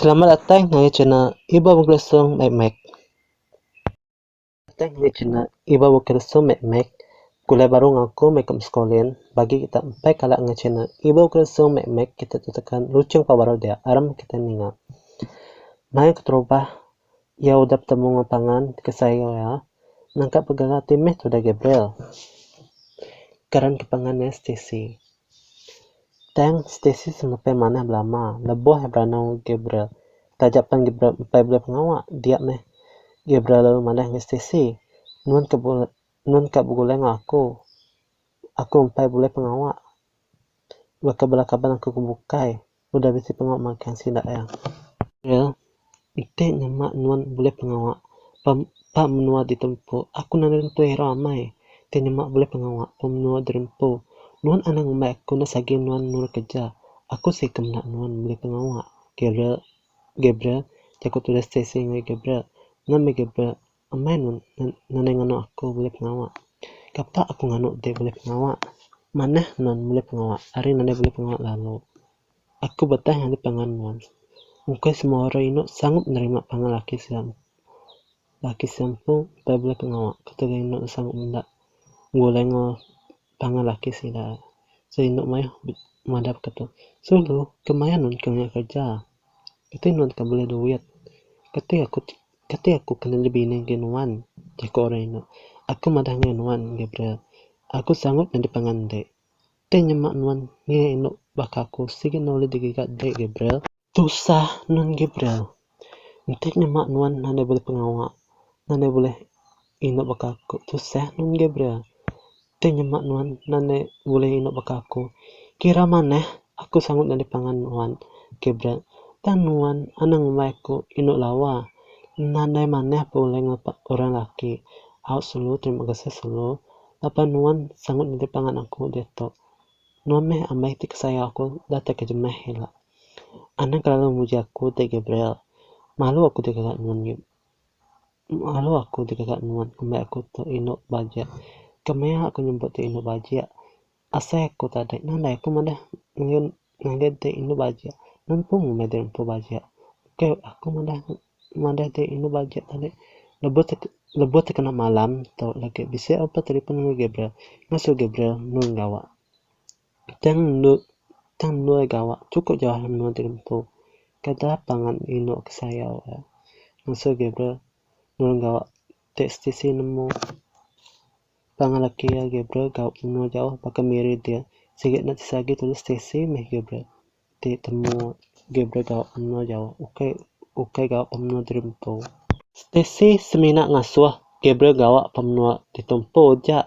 Selamat datai ngagai channel Iba Begelesung Mek Mek. Datai ngagai channel Iba Begelesung Mek Mek. Gulai baru enggau aku meh ikut Mskolin. Bagi kita empai kala ngagai channel Iba Begelesung Mek Mek kita tu tekan luchung pau baru dia aram kita ninga. Mai keterubah Iya udah betemu enggau pangan ke sayau iya nangkap pegara ti meh tudah Gabriel. Karan ke pangan iya Stacy. Tang Stacy semepai manah belama lebuh iya beranau Gabriel. Taja pan Gabriel empai bulih pengawa, dia meh Gabriel lalu madah enggau Stacy, Nuan ka bulih nuan ka begulai enggau aku. Aku empai bulih pengawa. Baka bala kaban aku ke bukai. Udah bisi pengawa magang sida iya. Iya, Enti nyema nuan bulih pengawa ba ba menua ditempu, aku nadai nentu irau amai. Enti nyema bulih pengawa ba menua dirempu, nuan anang ngumbai aku enda sagi nuan nurut kereja. Aku sigi ke meda nuan bulih pengawa, Gabriel Gabriel, jaku tulis Stacy enggau Gabriel. Nama Gabriel, Amai nadai nganu aku bulih pengawa. Kapa aku nganu ti bulih pengawa? Manah nuan bulih pengawa ari nadai bulih pengawa lalu. Aku betah ngagai pangan nuan. Engkai semua orang inu sanggup nerima pangan laki sida. Laki sida empu utai bulih pengawa. Ketegal inu sanggup meda. Enggau lenga. Pangan laki sida sida indu mayuh madap ka tu. Sulu ke maya nun ke ngagai kerja. Kati nun ke bulih duit. Kati aku kati aku kena nyadi bini ngagai nuan jaku orang indu. Aku madah ngagai nuan Gabriel. Aku sanggup nyadi pangan dek. Dek nyema nuan ngiga indu baka aku sigi ne ulih digiga dek Gabriel. Tusah nun Gabriel. Enti nyema nuan nadai bulih pengawa, nadai bulih indu baka aku. Tusah nun Gabriel. Enti nyema nuan nadai bulih indu baka aku, kira manah aku sanggup nyadi pangan nuan, Gabriel. Tang nuan anang ngumbai aku indu lawa. Nadai manah pun ulih ngapa orang laki. Au sulu, terima kasih sulu. Laban nuan sanggup nyadi pangan aku diatu. Nuan meh ambai ti kesayau aku datai ke jemah ila. Anak lalu muji aku ti Gabriel. Malu aku digaga nuan nyu. Malu aku digaga nuan ngumbai aku tu indu bajik. Kemaya aku nyebut ti indu bajik. Asai aku tadek nadai aku madah ngen ngagai ti indu bajik. Nempu ngumbai ti empu bajik. Ukai aku madah madah ti indu bajik tadi. Lebuh ti lebuh ti kena malam tu lagi bisi aku betelefon ngen Gabriel. Ngasu Gabriel nulung gawa. Tang endur tang endur gawa chukup jauh lalu menua ti dibentu. Kada pangan indu ke sayau iya. Ngesu Gabriel nulung gawa ti setisi nemu. Pangan laki iya Gabriel gawa menua jauh baka Miri dia. Sigi enda tisa agi tulis Stacey meh Gabriel. ti temu gi beregau ke menua jau ukai ukai ga ke menua diri empu. Stacey semina ngasuh Gabriel gawa ke menua ditu empu ja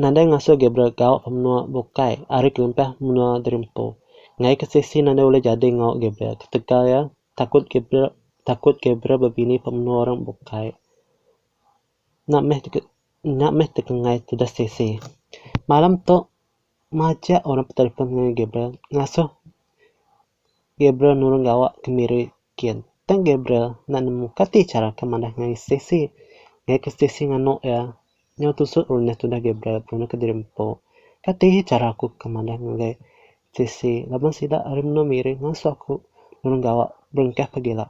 nadai ngasuh Gabriel gawa ke menua bukai ari kelempah menua diri empu. Ngagai ke Stacey nadai ulih jadi enggau Gabriel ketegal iya takut Gabriel takut Gabriel bebini ke menua orang bukai. Nya meh nya meh tekengai tudah Stacey. Malam tu Majak orang betelefon ngengai Gabriel ngasuh Gabriel nulung gawa kemiri Ken. Tang Gabriel enda nemu kati chara ke manah ngai Stacey. Ngaika Stacey nganu iya nyau tusuk runyah tudah Gabriel berunuh kediri empu. Kati chara aku ke manah ngagai Stacey laban sida ari menua miri ngasuh aku nulung gawa berengkah pagila.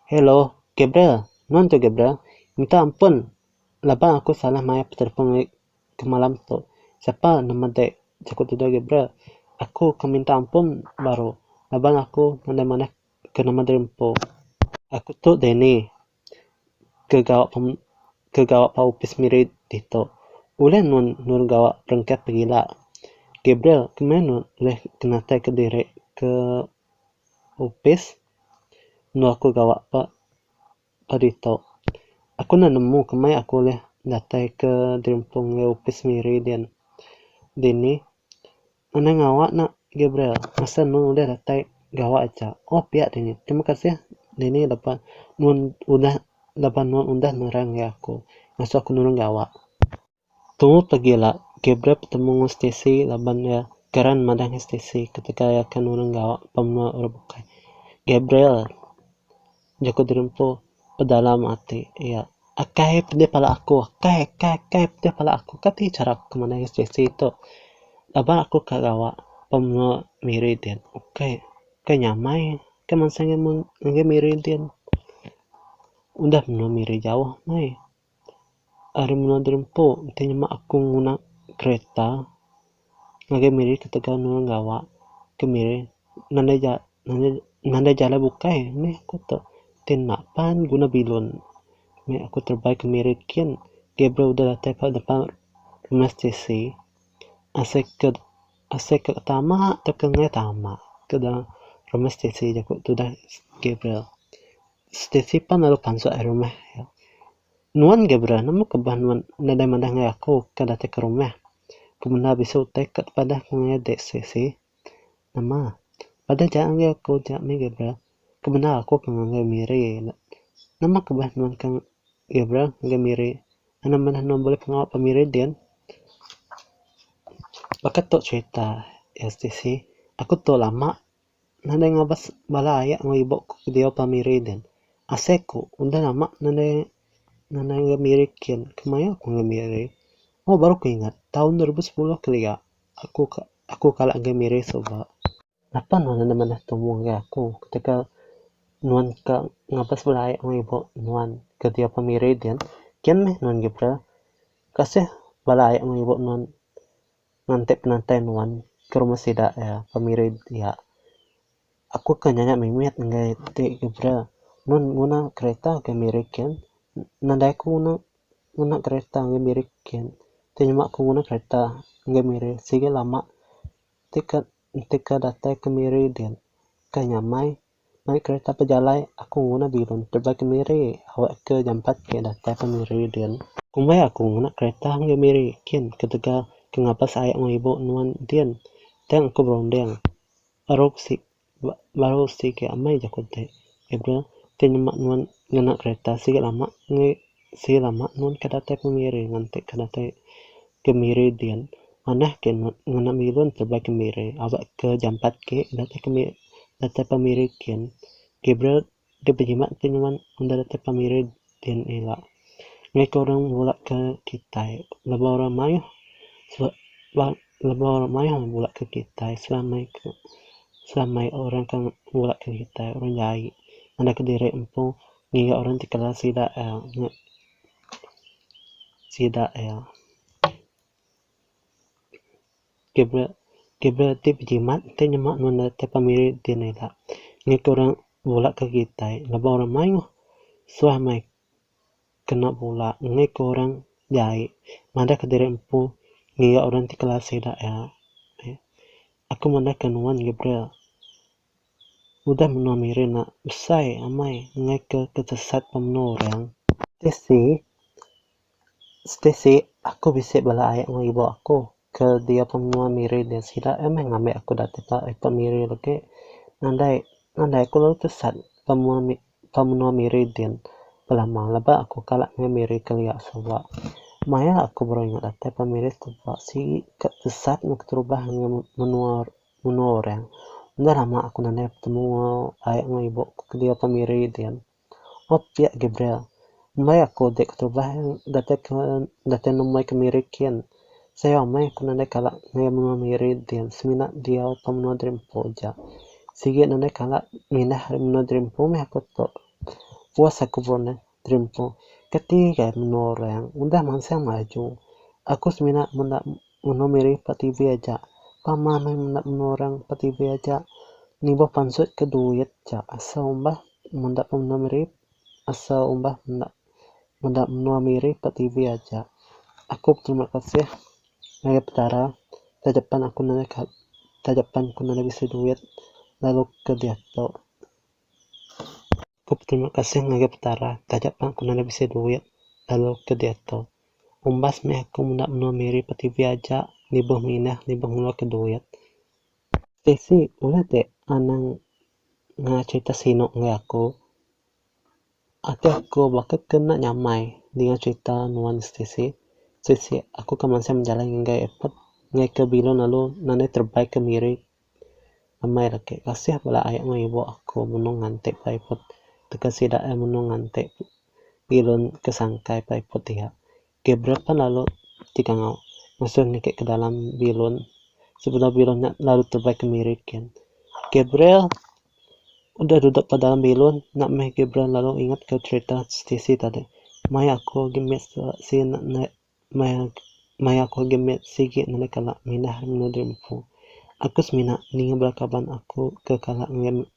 Hello, Gabriel. Nuan tu Gabriel. Minta ampun laban aku salah mayar betelefon ngai ke malam tu sapa enda madik jaku tuju agi bra aku ke minta ampun baru laban aku mandai manah ke nama diri empu aku tu Danny ke gawa ke gawa ba opis miri ditu ulih nun nurun gawa berengkah pengila Gabriel ke meh nun ulih ke natai ke diri ke opis enu aku gawa ba Ba ditu, aku enda nemu kemai aku ulih datai ke dirimpung enggau opis Miri din. Dini, anang ngawa nak Gabriel masa enu ulih datai gawa aja. Oh piak dini, terima kasih dini lebuh nuan udah lebuh nuan udah nerang enggau aku ngasuh aku nulung gawa. Tu tegi ila, Gabriel betemu enggau Stacy laban iya geran madah ngan Stacy ketika iya ke nulung enggau ba menua orang bukai. Gabriel jaku diri empu bedalam ati iya, Akai pedih pala aku, akai, akai, akai pedih pala aku. Ka ti chara aku ke mandai ngan Stacy tu. Laban aku ka gawa ba menua Miri din. Ukai, ukai nyamai ke mansang ngagai Miri din. Udah menua Miri jauh meh. ari menua Derempu ti nyema aku nguna kereta ngagai miri ketegal ne orang gawa ke miri nadai ja nadai nadai jalai bukai meh aku tu ti enda pan guna bilun meh aku terebai ke miri kin Gabriel udah datai ka depan rumah Stacey asai ke Asai ke tama atau ke nengah tama ke da rumah Stacey aja ku tudah Gabriel. Stacey pan lalu panjak ari rumah. Nuan Gabriel nemu ke bah nuan nadai madah ngagai aku ke datai ke rumah. Ku menda bisi utai ke tepadah ku ngagai dek Stacey. Nama? Padah ja ngagai aku ja meh Gabriel. Ku menda aku ke ngagai Miri. Nama ke bah nuan ke Gabriel ngagai Miri. Enda meh anu bulih pengawa pemiri din. Baka tu cerita stc, aku tu lama nadai ngabas bala aye enggau ibu ku diau pemiri din. Asai ku udah lama nadai nadai enggau miri kin, kemaye ku enggau miri. Oh baru ku ingat taun dua ribu sepuluh kelia aku aku kala enggau miri suba. Napa nuan enda manah tumu ngagai aku ketika nuan ka ngabas bala ai enggau ibu nuan ke dia pun miri din? Kian meh nuan Gibra, kasih bala ai enggau ibu nuan nganti penantai nuan ke rumah sida iya pemiri dia. Aku ke nyanya mimit ngagai ti Gibra, nuan nguna kereta ke miri kin? Nadai ku nguna nguna kereta ngagai miri kin, ti nyema ku nguna kereta ngagai miri sigi lama. Tiket entika datai ke Miri din ka nyamai. Mai kereta pejalai aku nguna bilun tebal ke Miri awak ke jampat ke datai ke Miri din. Kumbai aku nguna kereta enggai Miri kin ketegal ke ngabas ayak enggau ibu nuan din tang aku berunding. Eruk sik Ba baru sti ke amai jaku enti April ti nyema nuan ngena kereta sigi lama ngi sigi lama nuan ke datai pemiri nganti ke datai kemiri din manah ke nuan ngena bilun tebai kemiri aba ke jampat ke datai kemi datai pemiri kin Gabriel Deka bejimat ke nuan enda datai pemiri dna ila. Ngaika orang bula ke kitai. Laba orang maioh ba laba orang maioh bula ke kitai selamai ke selamai orang ke bula ke kitai orang jai enda ke diri empu ngiga orang ti kala sida ia nge sida ia. Gabriel Gabriel ti bejimat enti nyema nunda ti pemiri enti ne ila. Ngena ke orang bula ke kitai laban orang mayuh suah meh kena bula ngena ke orang jai madah ke diri empu ngiga orang ti kelas sida iya. Aku madah ke nuan Gabriel udah menua miri enda besai amai ngena ke kesesat pemenu orang. Tc Stacey, aku bisi bala ai enggau ibu aku ke dia pun menua Miri dia sida iya meh ngambi aku datai ka airport Miri legi. Nadai nadai aku lalu tesat ke menua ke menua Miri din belama leba aku kala meh Miri kelia sawa. Maya aku baru ingat datai ka Miri teba sigi ka tesat meh keterubah enggau menua menua orang. Udah lama aku nadai betemu ai enggau ibu ke dia pun Miri din. Op pia Gabriel, ndai aku dek ketubah datai ke datai nemui ke Miri kin. Sayau amai aku nadai kala ngagai menua Miri din semina diau tau menua Dreampo ja. Sigi nadai kala mindah ari menua Dreampo meh aku tu. Puas aku bro neh, Dreampo kati gai menua orang udah mansang maju. Aku semina menda Unoh miri pa TV aja. Pama meh menda menua orang pa TV aja. Nibuh pansut ke duit ja asa umbah menda pa menua miri asa umbah menda meda menua miri pa TV aja. Aku beterima kasih ngagai Petara taja pan aku nadai ka taja pan ku nadai bisi duit lalu ke diatu. Ku beterima kasih ngagai Petara taja pan aku nadai bisi duit lalu ke diatu. Umbas meh aku menda menua Miri pa TV aja nibuh minah nibuh ngeluarka duit. Stacy, Ulih ti anang ngena cherita sinu ngagai aku. Ati aku baka ke enda nyamai dinga cherita nuan Stacy. Stacy, aku ka mansang bejalai ngagai airport ngaika bilun lalu nadai terebai ke Miri Amai laki kasih bala ai enggau ibu aku menung nganti pai put teka sida eh menung nganti bilun ke sangkai pai put iya. Ke brek pan lalu ti kangau mesu niki ke dalam bilun sebedau bilun nya lalu tebai kemiri kin. Ke brel udah duduk ke dalam bilun nya meh ke brel lalu ingat ke cerita siti tadi. Maya aku agi mit sien Maya aku agi mit sigi nanda kala mindah ari menua diri empu. Aku semina ninga bala kaban aku ke kala ngagai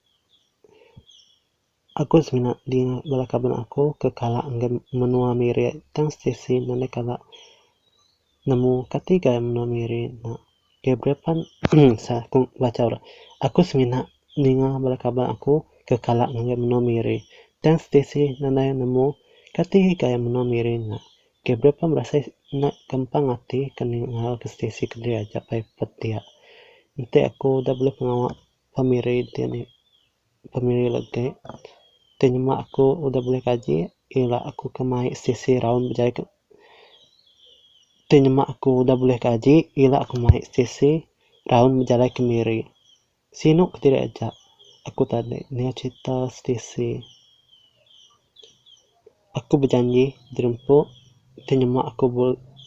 Aku semina ninga bala kaban aku ke kala ngagai menua Miri tang Stacey nanda kala nemu kati gai menua Miri nya. Keh berepan sah aku bachau rak. Aku semina ninga bala kaban aku ke kala ngagai menua Miri tang Stacey nanda nemu kati gai menua Miri nya. Ke berapa berasai enda kempang ati ke ninga ke Stacey keli aja pai petia. Enti aku udah bulih pengawa pemiri ti ni pemiri legi ti nyema aku udah bulih kaji ila aku ke mai Stacey raun bejai ke ti nyema aku udah bulih kaji ila aku mai Stacey raun bejalai kemiri. Sinu ke diri aja aku tadi ninga cerita Stacey. Aku bejanji dirempu ti nyema aku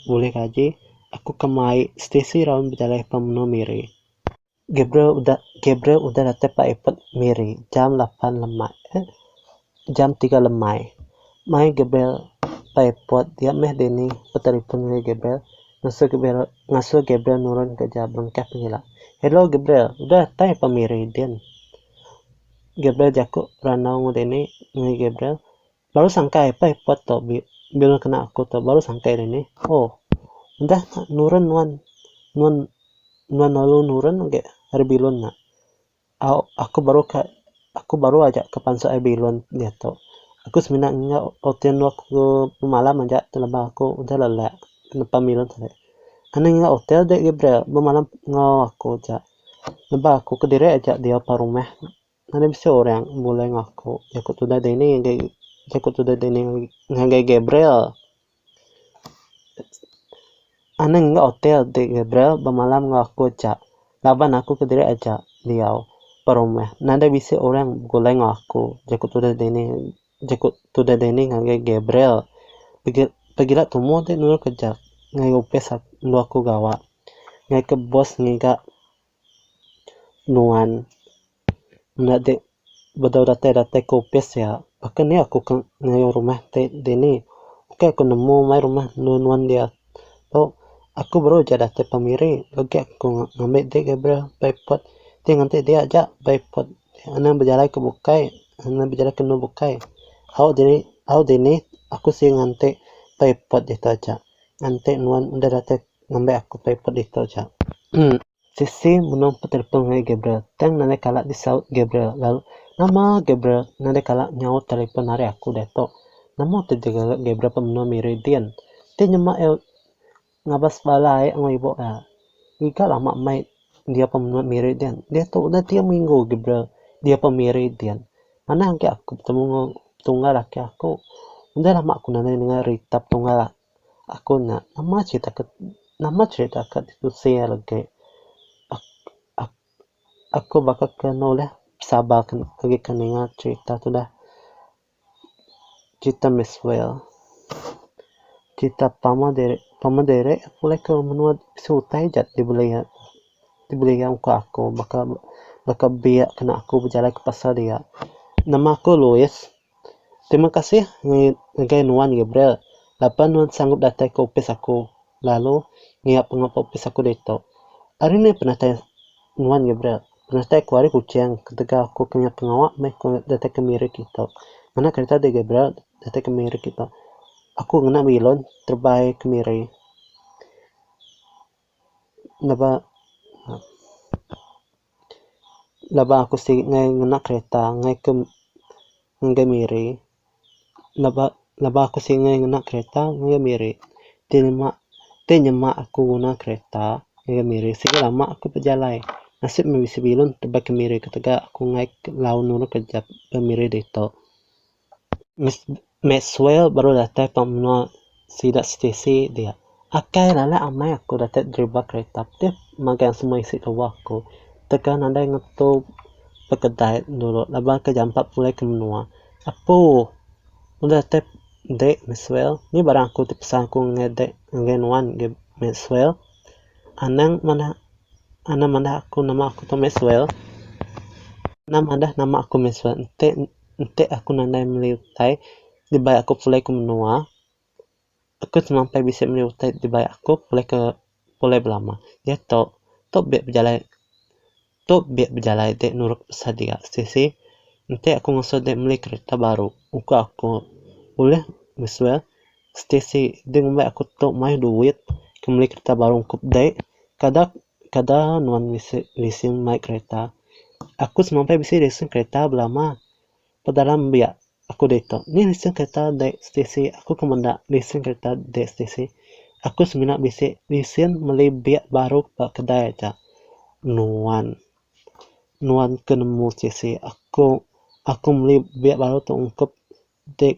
bulih gaji aku ke mai Stacey raun bejalai pa menua Miri. Gabriel udah Gabriel udah datai pa airport Miri jam lapan lemak. Jam tiga lemai. Mai Gabriel ba airport dia meh Danny betelefon ngagai Gabriel ngasuh Gabriel ngasuh Gabriel nurun kereja berengkah pengila. Hello Gabriel, udah tai pa Miri din? Gabriel jaku randau enggau Danny ngagai Gabriel, baru sangkai pa airport tu bi bilun kena aku tu baru sangkai Danny. Ohh udah nya nurun nuan nuan nuan lalu nurun agi ari bilun nya. Au, aku baru ka aku baru aja ka pansut ai bilun diatu. Aku semina enggau ote endo aku bemalam aja laban aku udah lelak nepan bilun tadi. Anih enggau ote dek Gabriel bemalam enggau aku aja. Nebak aku kediri aja diau pa rumah. Mana bisi orang bulai enggau aku. Aku tudah dini ngagai aku tudah dini ngagai Gabriel. Anang enggau hotel ti Gabriel bemalam enggau aku aja laban aku kediri aja diau ba rumah. Nadai bisi orang begulai enggau aku, jaku tudah Danny jaku tudah Danny ngagai Gabriel. Pegi pegila tumu ti nurut ke jak ngagai opis aku enggau aku gawa. Ngagai ke boss ngiga nuan. Enda dek bedau datai datai ke opis ya baka ni aku ke ngayuh rumah ti dini ukai ku nemu mai rumah enu nuan dia tu aku baru aja datai pemiri legi aku ngambi dek Gabriel nya ba airport ti nganti dia aja ba airport anu bejalai ke bukai anu bejalai ke enu bukai au diri au dini aku si nganti ba airport ditu aja nganti nuan enda datai ngambi aku ba airport ditu aja. Sisi menung petelefon ngagai Gabriel. Tang nadai kala disaut Gabriel lalu nama Gabriel nadai kala nyaut telepon ari aku diatu. Nama tu jegal ga Gabriel pan menua Miri din. Ti nyema iya ngabas bala ai enggau ibu iya. Giga lama meh dia pan menua Miri din. Diatu udah tiga minggu Gabriel dia pan Miri din. Manah agi aku betemu enggau tunggal laki aku. Udah lama aku nadai ndengar rita tunggal. Aku nya nama cerita ke nama cerita ke ditusi iya legi ak ak aku baka ke nulih sabar agi ke ninga cerita tudah cerita miss whale cerita pama diri pama diri pulih ke menua bisi utai ja dibeli iya dibeli iya muka aku baka baka biak kena aku bejalai ke pasar dia nama aku louis Terima kasih ngagai nuan Gabriel laban nuan sanggup datai ke opis aku lalu ngiap pengawa opis aku ditu. Ari meh penatai nuan Gabriel? Penatai aku ari Kuching ketegal aku ke ngiap pengawa meh aku datai ke miri kitu. Ngena kereta deh Gabriel datai ke miri kitu. Aku ngena bilun terebai ke miri. Laba laba aku siti ngai ngena kereta ngai ke ngagai miri laba laba aku siti ngai ngena kereta ngagai miri ti nyema ti nyema aku nguna kereta ngagai miri sigi lama aku bejalai nasib meh bisi bilun tebak ke miri ketega aku ngai ke laun nulung kerja ke miri ditu. Maxwell baru datai ba menua sida Stacey dia. Akai lala amai aku datai deriba kereta dep magang semua isi kebuah aku tegal nadai ngetu pekedai dulu laban ke jampa pulai ke menua. Apu udah datai ende Maxwell nya barang aku ti pesan aku ngagai de ngagai nuan agi Maxwell anang manah anang manah aku nama aku tu Maxwell anang manah nama aku Maxwell enti. enti aku nadai meli utai dibai aku pulai ke menua aku telampau bisi meli utai dibai aku pulai ke pulai belama diak tok tok biak bejalai tok biak bejalai ti nurut pasal dia sisi enti aku ngasuh dia meli kereta baru uka aku ulih mesuai stesi deh ngumbai aku tok mayuh duit ke meli kereta baru ungkup deh kada Kada nuan bisi lesen mai kereta. Aku semampai bisi lesen kereta belama. Pedalam biak aku ditu. Nih lesen kereta dek stesi. Aku ke menda lesen kereta dek stesi. Aku semina bisi lesen meli biak baru ba kedai aja. Nuan, nuan ke nemu stesi. Aku, aku meli biak baru tu ungkup dek.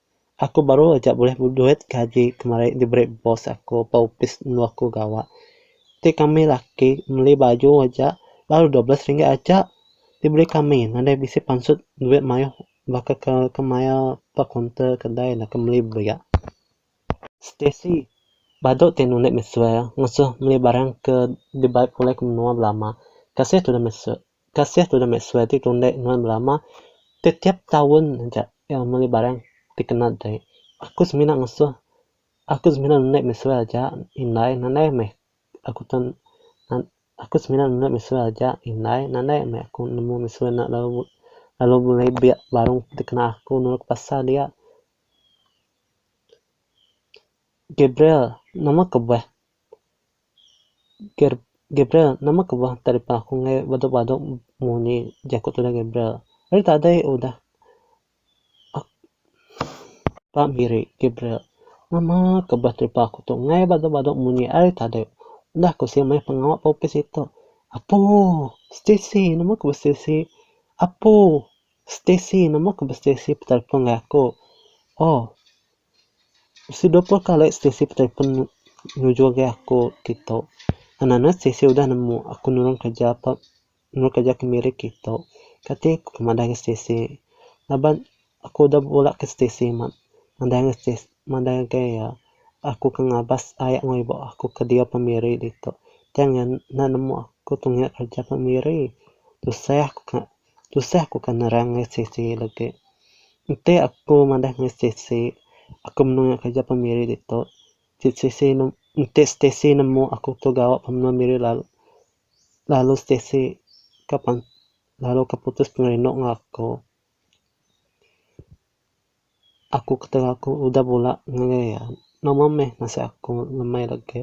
Aku baru aja bulih duit gaji kemari diberi boss aku ba opis enu aku gawa. Ti kami laki meli baju aja baru dua belas ringgit aja diberi kami nadai bisi pansut duit mayuh baka ke ke maya ba kaunter kedai enda ke meli belia. Stacey, badu ti anu enda mesui ngasuh meli barang ke dibai pulih ke menua belama. Kasih tudah mesui. Kasih tudah meh suai ti tundah nuan belama. Tetiap taun aja iya meli barang ti kena deh. Aku semina ngesuh, aku semina nundah meh suai aja indai nandai meh aku tau nan aku semina nundah meh suai aja indai nandai meh aku nemu meh suai enda lalu lalu bulai biak barang ti kena aku nulung aku pasal dia. Gabriel nama kebuah. Gabriel, nama ke bah telefon aku enggai badu-badu munyi jaku tudah Gabriel. Ari tadai udah aku ba miri Gabriel. Nama ke bah telefon aku tu enggai badu-badu munyi ari tadai udah aku siap maya pengawa ba opis ito. Apu, Stacey nama ke bah Stacey. Apu, Stacey nama ke bah Stacey betelefon enggau aku. Oh, Bisi dua puluh kali stesi betelefon nujur agai aku ti tu. Anang-anang stesi udah nemu aku nulung kereja pa nulung kereja kemiri ti tu. Kati ku ke madah ga stesi laban aku udah bula ke stesi mak madah ga stes madah ga iya aku ke ngabas aya enggau ibu aku ke dia pa miri ditu. Tang iya enda nemu aku tunga kereja pa miri. Tusah ku ka Tusah ku ka nerang ngai siti legi. Enti aku madah ngai siti, aku menua ngai kereja pemiri ditu, ti siti enti siti nemu aku tu gawa pemiri lalu lalu siti ka pan lalu ka putus pengerindu enggau aku. Aku ketara aku udah bula ngelai iya. Nama meh nasib aku ngemai da ke.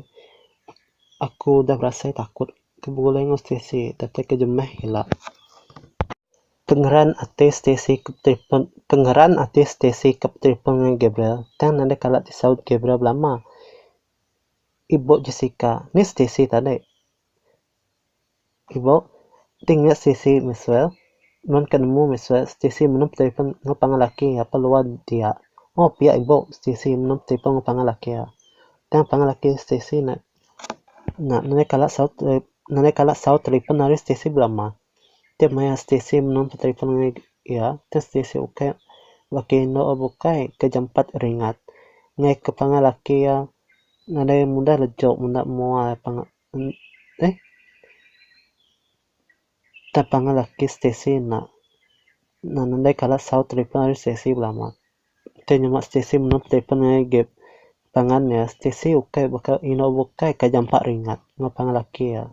Aku udah berasai takut ke begulai enggau Stacey datai ke jemeh ila. Pengeran ati Stacey ke betelefon pengeran ati Stacey ke betelefon ngan Gabriel tang nadai kala disaut Gabriel belama. Ibu Jessica, ni Stacey tadi. Ibuh ti ngiut sisi mesra, nuan ka nemu mesra siti menem telefon enggau pangan laki apai luar dia. Moh pia ibuh siti menem telefon enggau pangan laki iya. Tang pangan laki siti ne nya nadai kala saut nadai kala saut telefon ari siti belama. Tiap maya siti menem telefon enggau iya, tang siti ukai baka indu abu ukai ke jampat ringat. Ngaika pangan laki iya nadai mudah laju menda mua Enda pang alah ke stesen enda nadai kala saut telefon ari stesen ke belama ke nyema stesen meno telefon ngagai gap pangan iya stesen ukai baka eno ukai ka jampat ringat nyapang laki iya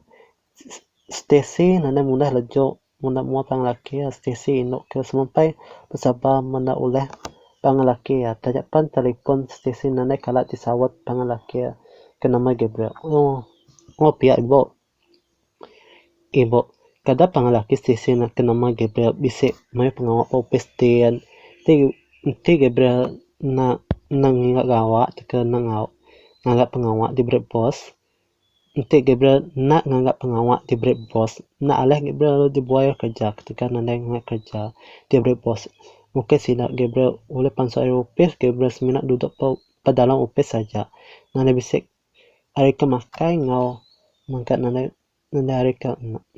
stesen nadai mudah lejok. Muna mua pangan laki Stacey indu kira semampai besabar meda ulih pangan laki iya. Taja pan telipon Stacey nadai kala ti saut pangan laki iya ke nama Gabriel. Ohh oh pia ibu. Ibu, kada pangan laki Stacey ke nama Gabriel bisi mayuh pengawa ba opis ti an. Ti enti Gabriel enda enda ngiga gawa tauka enda ngau ngaga pengawa diberi bos. Enti Gabriel enda nganggap pengawa ti beri bos, enda alih Gabriel lalu dibuai ari kereja ketegal nadai ngagai kereja ti beri bos. Mungkin sida Gabriel ulih pansut ari opis, Gabriel semina duduk ba dalam opis aja. Nadai bisi ari ke makai enggau mega nadai nadai ari ke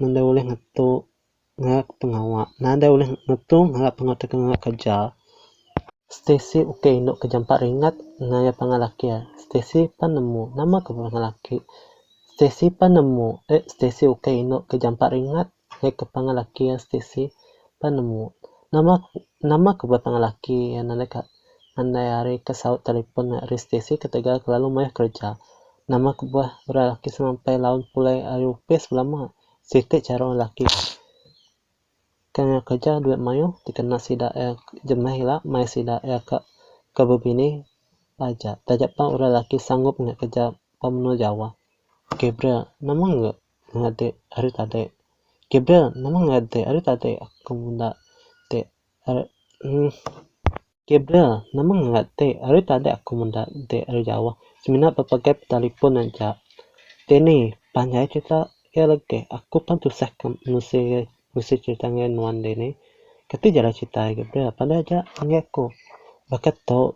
nadai ulih ngetu. ngaga pengawa nadai ulih nutung ngaga pengawa tauka ngaga kerja. Stacey ukai indu ke jampat ringat engai iya pangan laki iya. Stacey pan nemu, nama ke pangan laki. Stacey pan nemu, eh Stacey ukai indu ke jampat ringat engai ke pangan laki iya Stacey pan nemu. Nama nama ke buai pangan laki iya nadai ka nadai ari ke saut telefon engai ari Stacey ketegal kelalu mayuh kerja. Nama kebuah udah laki semampai laun pulai ari opis belama. Siti chara orang laki ke ngagai kerja duit mayuh dikena sida iya jemah ila mai sida iya ka ke bebini aja. Taja pah orang laki sanggup ngagai kerja ba menua Jawa. Gabriel, Nama enggau ngadik ari tadi? Gabriel, Nama ngadik ari tadi aku menda ti ari. Gabriel, nama ngera ti? Ari tadi aku meda enti ari jauh semina bepegai betelefon aja. Danny, panjai cerita iya legi. Aku pan tusah ke menusi menusi cerita ngagai nuan Danny. Kati jalah cerita iya Gabriel? Panai aja ngagai aku. Baka tu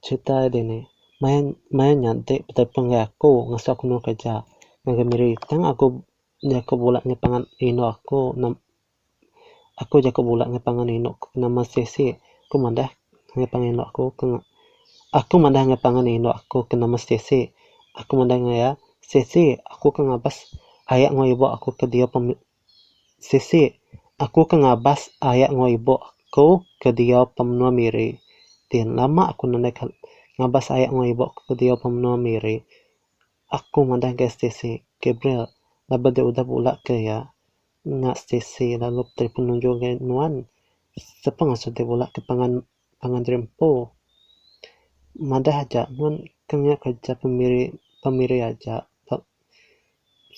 cerita iya Danny, maya maya nya enti betelefon ngagai aku ngasuh aku nemu kerja ngagai Miri tang aku nya aku bula nya pangan indu aku. Aku jaku bula enggau pangan indu aku ke nama Stacey. Aku madah enggau pangan indu aku ke Aku madah enggau pangan indu aku ke nama Stacey. Aku madah enggau iya, Stacey, aku ke ngabas aya enggau ibu aku ke diau pem Stacey, aku ke ngabas aya enggau ibu aku ke diau pemenua Miri. Din, lama aku nadai ke ngabas aya enggau ibu aku ke diau pemenua Miri. Aku madah enggau Stacey, Gabriel, laban dep udah bula ke iya. Nya Stacey lalu puteri penunjul ga nuan sepa ngasuh deh bula ke pangan pangan diri empu. Madah aja nuan ke enggau kerja pemiri pemiri aja ba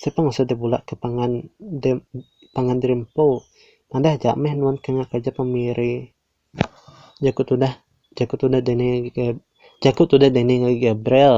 sepa ngasuh deh bula ke pangan deh pangan diri empu. Madah aja meh nuan ke enggau kerja pemiri jaku tudah jaku tudah Daniel Ga jaku tudah Daniel Gabriel.